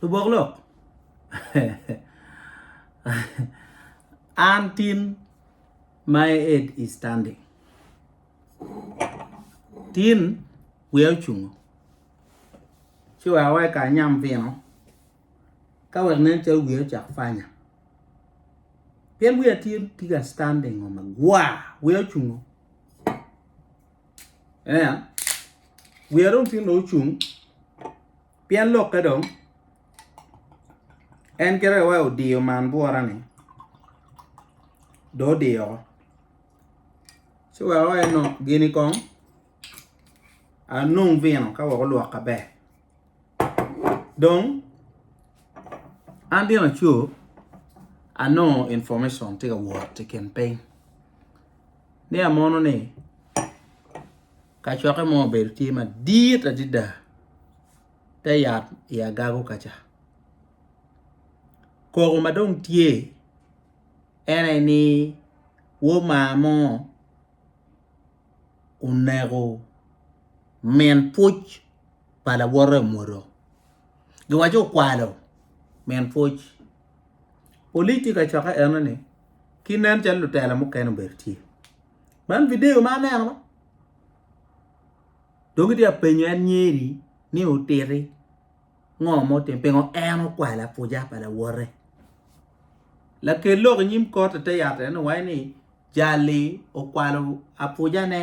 Lubok lok An tin my head is standing Tin wiya ocungo Ci wek awaci kara anyam vino Ka wek nen calo wiya ocako panya Pien wiya tye ka standing oh my gwaa wiya ocungo Ea, wi Arun tye ma ocung, pien lokke dong en ki rewa odiyo man bwora-ni, dong odiyo woko. Ci wek awe gini kong anong vino ka wek olwoka maber. Dong an tye laco anongo information tye ka wot i kin piny ni amono ni kacokke mo obedo tye madit adada te yat i agago kaca koko ma dong tye en aye ni womar mo oneko min pwoc pa lawote omwodo. Giwaco okwalo min pwoc. Police tye ka cokke eno ni ki nen calo lutela mukene obedo tye. Man video ma aneno ma. Dong gitye ka penyo en nyeri ni otiti ngo ma otim pingo en okwalo apwoca pa lawote. Lakel lok inyim koti te yat eno waco ni jali okwalo apwocane.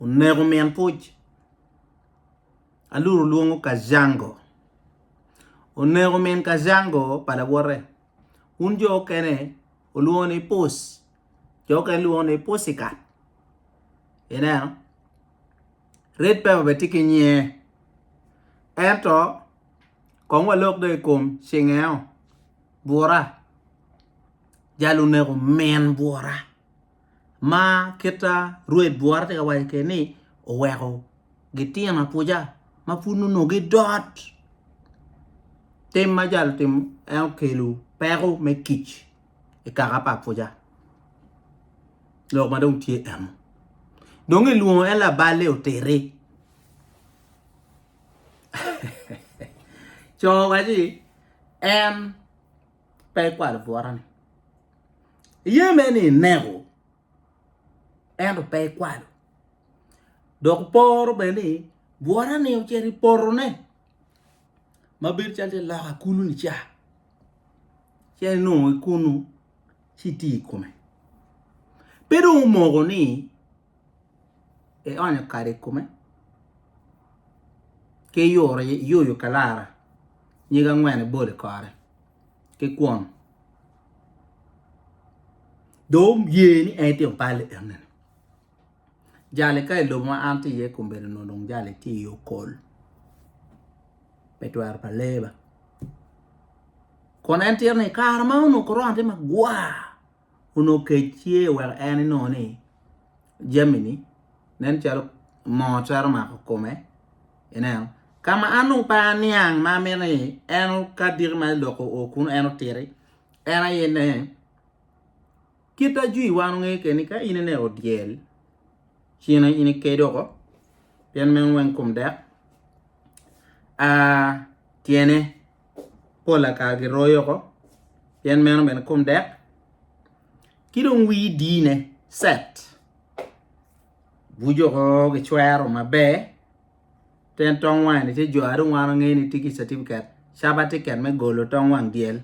oneko min puc aluru lwongo kajango oneko min kajango pa lawote wun jo mukene wulwongo ni pus jo mukene lwongo ni pusi kat ineno red pepper bene tye ki nyinge ento kong walok dong i kom cinge ma bwura jalo oneko min bwura. ma kita Rued Bwora tye ka waco kede ni oweko gitino apwoja ma pud nongo onongo gidot. Tim ma jalo otimo en okelo peko me kic i kaka pa apwoja lok ma dong tye eno. Dong ilwongo en laballe oteri. Co waci en. pe ikwalo bwotani iye me ni ineko ento pe ikwalo dok poro bene ni bwotani ocito i porone ma bedo calo tye loka kuluni ca ci en onongo i kunu ci iti i kome pe dong omoko ni ionyo kado i kome ki yuro iye iyoyo kalara nyig angwen ibolo i kore ki kwon dong oye ni en itye balo eni jali ka i lobo ma an atye iye kombeddi onongo dong jali tye iye okol pi twero pa leba kun en tye ni i kare ma onongo korona tye magwar onongo kec tye wek en enongo ni jami-ni nen calo moo twero mako kome, ineno. Ka ma an dong pe aniang ma amito ni en ka diki ma lok oo kunnu en otiti, en aye ni, kit ma jui wan wangeyo kene ni ka in ineko dyel, cen aye in ikedo oko pien meno weng kom dek, aa tyene. pol kare giroyo oko pien meno bene kom dek ki dong wii diine set buco oko gicwero maber ten tong wang eni tye jo aryo ma wanongo ni gitye ki catipiket caba tiket me golo tong wang dyel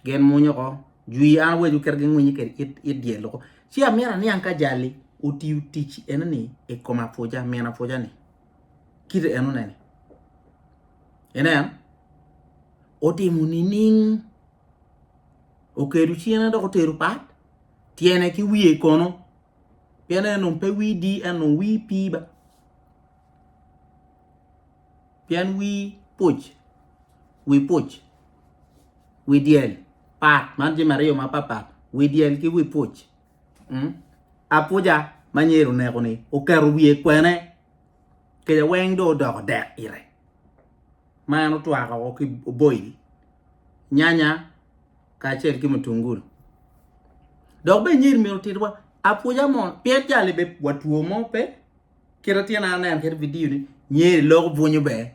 gin mwonyo oko jwi an awaco kit gingwinyo kwede it dyel loko ci amito aniang ka jali otiyo tic enoni i kom apwoca min apwoca-ni. kite enone-ni. Ineno? Otimo nining? Okedo cene dok otero pat tyene ki wiye kono. Pien en onong pe wi di, en onong wi pi ba. Pien wi puc, wi puc, wi dyel pat, man jami aryo mapat pat, wi dyel ki wi puc. Apuja ma nyer oneko-ni oketo wiye kwene, kece weng dong odoko dek ite ma en otwako woko ki oboyi, nyanya kacel ki mutungulu. Dok bene nyer myero otitwa apuja mo pien jali bene watwo mo pe? Kit ma tye ni aneno kit vidio-ni, nyer loko bwunyo bene.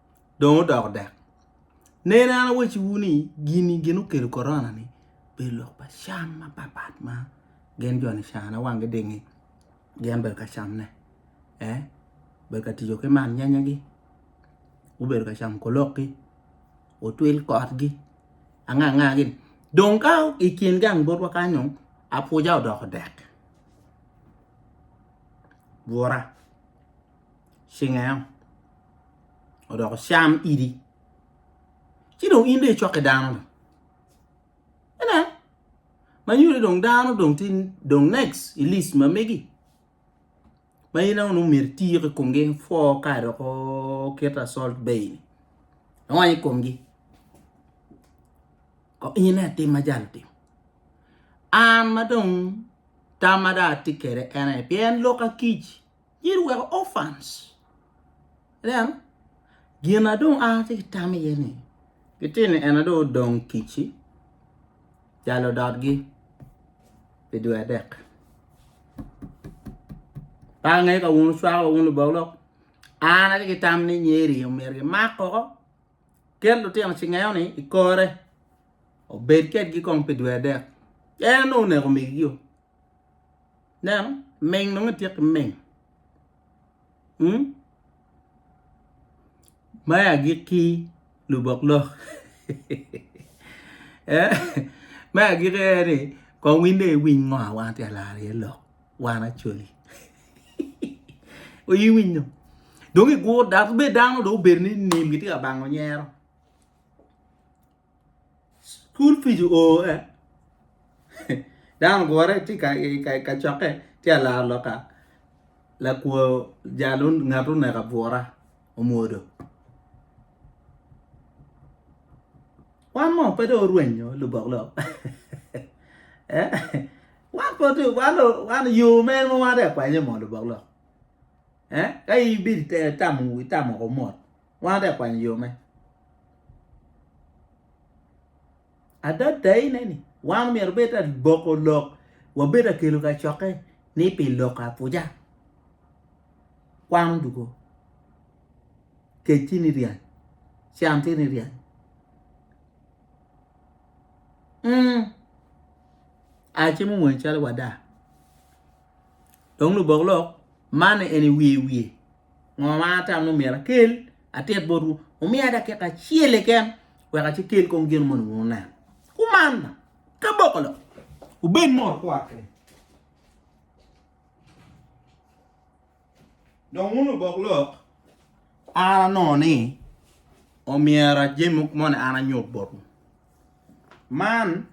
dong odoko dek. Nen an awacciwu ni gini gin okelo korona ni bedo lok pa cam mapatpat ma gin jo nicana wangi dingi gin obedo ka camone eh obedo ka tiyo ki man nyanyagi gubedo ka camo kolok-ki otwil kotgi anga anga gini dong ka i kin gang botwa kany dong apuca odoko dek bura. cinge odoko cam idi ci dong in dong icok ki dano dong ene ma nyuto ni dong dano dong tye dong next i list ma megi ma in dong onongo myero iti ki komgi ipwo ka dok okit assault bail iwony i komgi kong in aye atim ma jalo otimo an ma dong tam ma dong atye kwede en aye pien lok akic. Yero weko orphans. Ineno? Gin ma dong an atye ki tam iye ni gitini ena dong odong kici jalo dotgi pi dwe adek. Bange ka wun cwako wa wun lubok lok. An atye ki tam ni nyeri omyero gimak koko ket lutino cingeo ni i kore obed kedgi kong pi dwe adek. En onongo oneko migigio. Neno, meng nongo itye ki meng ma i agikki lubok lok me agikki aye ni kong winy dong iwiny ngo ma wan atye ka laro iye lok wan Acholi aye iwiny dong, dong igur dano bed dano dong obedo ni nim gitye ka bango nyero. School fees o eh. Dano gore tye ka cokke tye alaro loka lakwo jal ngat oneko abwura omwodo. Wan mo pe dong orwenyo lubok lok eh wan pe dong wan yo mere ma wan dong akwanyo mo lubok lok eh ka in ibedo itamo woko mot. Wan atye ka kwanyo yo me. Adadai ne ni wan omyero bed ta boko lok wabed ta kelo kacokke ni pi lok apuja kwano dugo kecci ni ryany can tye ni ryany mm ace mu weny calo wada dong lubok lok man eni wiye wiye ngo ma atamo ni omyero akel atit botwu wumiya dakika acel keken wek aci kel kong gin moni wunen kumanna ka boko lok wubed mot kwake dong wun lubok lok an anongo ni omyera jami moni an anyut botwu man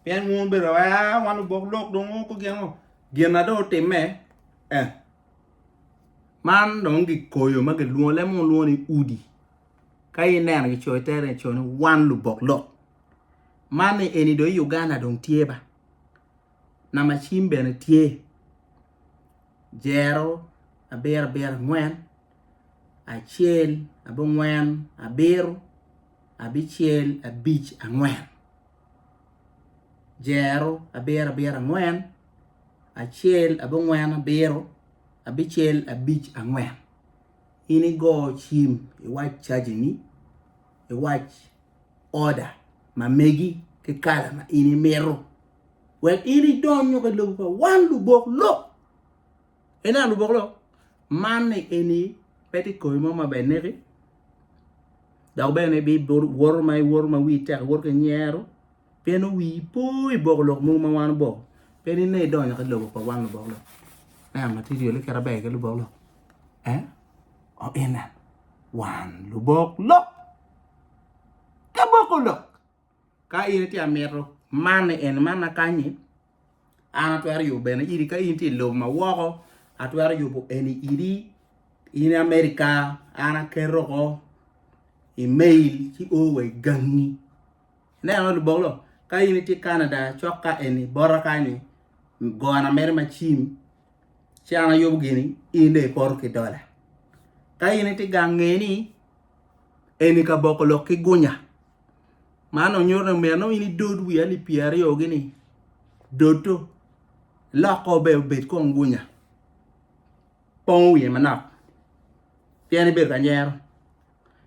pien wun wubedo wai wan lubok lok dong ngo ko gin ngo gin ma dong otimme eh Man dong gikoyo ma gilwongo leb mogo lwongo ni udi ka ineno kicoyo i tere ni co ni wan lubok lok man ni eni dong i Uganda dong tye ba namacim bene tye jero abirabira angwen acel abongwen abiro abicel abic angwen jero abirabira angwen acel, abongwen, abiro, abicel, abic, angwen. In igo cim iwac caji ni, iwac oda ma megi ki kala ma in imito. Wek in idonyo ki lobo pa wan lubok lok. Ena lubok lok? Man ni eni pe ti koi mo ma be neki. Dok bene bi woto ma iwoto ma wi tek iwoto ki nyero. pien owii po i boko lok mogo ma wan oboko pien ine idongo nyaka i lobo pa wan lubok lok me am material kit aber ki lubok lok eh o ine wan lubok lok ka boko lok ka in itye ka mito man ni eni man akanyi an atwero yubo bene iri ka in itye i lobo ma woko atwero yubo eni iri in i America an aketo oko i mail ci o wa i gangi. Ineno lubok lo? Ka in itye Canada cok ka eni bota ka eni gona mere ma cim ci an ayubo gini in dong ikoro ki dola. Ka in itye gang nge ni eni ka boko lok ki gunya. Man onyuto ni omyero nongo in idod wi alip pyer aryo gi ni dodo lok ko be obed kong gunya pongo wiye manok pien ibedo ka nyero.